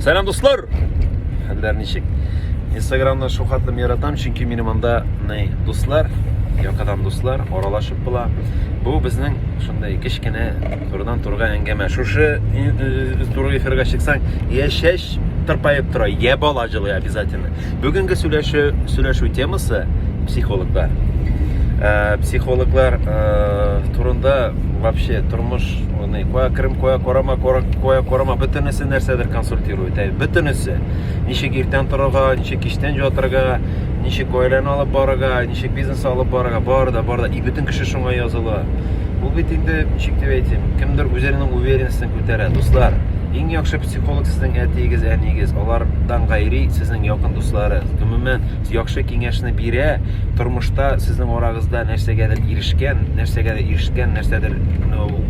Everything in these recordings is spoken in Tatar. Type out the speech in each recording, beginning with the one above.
Сәлам дуслар! Хәлләр ничек? Инстаграмда шул хәтлем яратам, чөнки минем анда ней дуслар, якадан дуслар, аралашып була. Бу безнең шундый кечкенә турыдан турга әңгәмә. Шушы туры эфирга чыксаң, я шәш тырпаеп тора, я бала җылый обязательно. Бүгенге сөйләшү сөйләшү темасы психологлар. Э, психологлар э, турында вообще тормыш Аны Коя Крым, Коя Корама, Коя Корама бөтенесе нәрсәдер консультирует. Әй, бөтенесе. Ничек иртән торырга, ничек кичтән ятарга, ничек гаиләне алып барырга, ничек бизнес алып барырга, бар да, бар да. И бөтен кеше шуңа языла. Бу бит инде ничек дип әйтим, кемдер үзенең уверенностен күтәрә. Дуслар, иң яхшы психолог сезнең әтиегез, әниегез, алардан гайри сезнең якын дусларыгыз. Гомумән, яхшы киңәшне бирә, тормышта сезнең арагызда нәрсәгәдер ирешкән, нәрсәгәдер ирешкән, нәрсәдер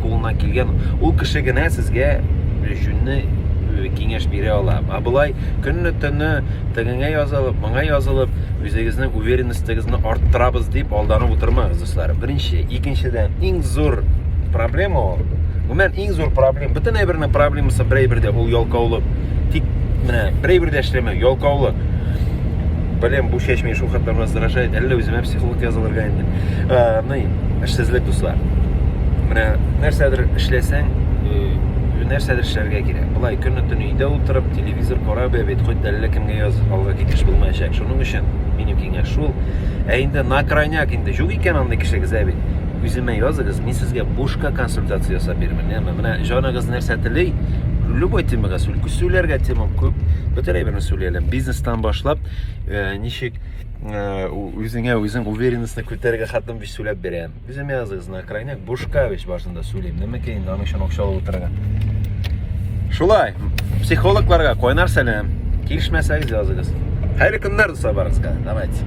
кулына килгән, ул кеше генә сезгә җүнне киңәш бирә ала. Ә болай көнне төнне тегеңә язылып, моңа язылып, үзегезнең уверенностегезне арттырабыз дип алданып утырмагыз, дуслар. Беренче, икенчедән, иң зур проблема ул. Гомумән Иң зур проблем, бөтен әйбернең проблемасы бер әйбердә, ул ялкаулык. Тик менә бер әйбердә эшләмәү, ялкаулык. Белем бу чәчми, шул хәтле раздражает, әллә үземә психолог язылырга инде. Э, ну, эшсезлек дуслар. Менә нәрсәдер эшләсәң, нәрсәдер эшләргә кирәк. Былай көне төне өйдә утырып, телевизор карап бит, хоть әллә кемгә яз, алга китеш булмаячак. Шуның өчен минем киңәш шул. Ә инде на крайняк инде юк икән андый кешегез, ә бит. Үземә языгыз, мин сезгә бушка консультация ясап бирермен. Яме, менә җаныгыз нәрсә тели, любой темага сүл, сүләргә тема күп, бөтен әйберне сүли әле. Бизнестан башлап, э, ничек э, үзеңә үзең уверенностьны күтәрергә хатын биш сүләп бирәм. Үземә языгыз, на крайняк бушка биш башында сүлим. Нәмә кәен, аның өчен акча алып утырырга. Шулай, психологларга кайнар сәлам. Килешмәсәгез языгыз. Хәерле көннәр, дуслар, барыгызга. Давайте.